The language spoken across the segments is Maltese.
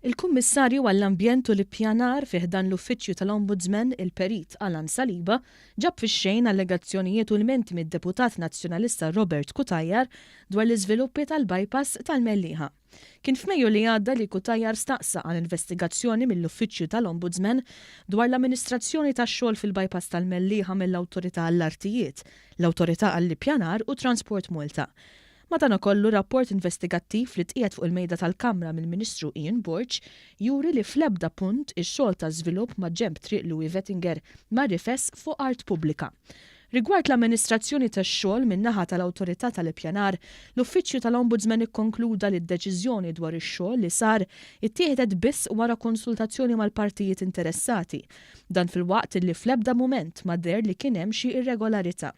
Il-Kummissarju għall-Ambjent u l-Ippjanar fi ħdan l-Uffiċċju tal-Ombudsman, il-Perit Alan Saliba, ġab fix-xejn allegazzjonijiet u lmenti mid-Deputat Nazzjonalista Robert Cutajar dwar l-iżviluppi tal-bypass tal-Mellieħa. Kien f'Mejju li għadda li Cutajar staqsa għal investigazzjoni mill-Uffiċċju tal-Ombudsman dwar l-amministrazzjoni tax-xogħol fil-bypass tal-Mellieħa mill-Awtorità għall-Artijiet, l-Awtorità għall-Ippjanar u Transport Malta, Madanakollu, rapport investigattiv li tqiegħed fuq il-Mejda tal-Kamra mill-Ministru Ian Borg juri li fl-ebda punt ix-xogħol ta' żvilupp maġenb Triq Louis Vettinger ma rifess fuq art pubblika. Rigward l-amministrazzjoni tax-xogħol min-naħa tal-Awtorità tal-Ippjanar, l-Uffiċċju tal-Ombudsman ikkonkluda li d-deċiżjoni dwar ix-xogħol li sar ittieħdet biss wara konsultazzjoni mal-partijiet interessati. Dan filwaqt li fl-ebda mument ma deher li kien hemm xi irregolarità.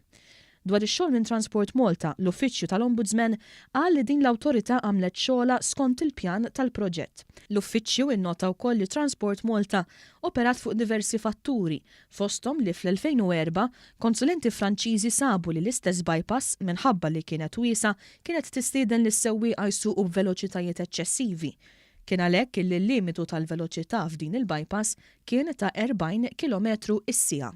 Dwar ix-xogħol minn Transport Malta, l-Uffiċċju tal-Ombudsman qal li din l-awtorità għamlet xogħolha skont il-pjan tal-proġett. L-Uffiċċju innota wkoll li Transport Malta operat fuq diversi fatturi, fosthom li fl-2004 konsulenti Franċiżi sabu li l-istess bypass, minħabba li kienet wiesgħa, kienet tistieden lis-sewwieqa jsuqu b'veloċitajiet eċċessivi. Kien għalhekk illi l-limitu tal-veloċità f'din il-bypass kien ta' 40 kilometru s-siegħa.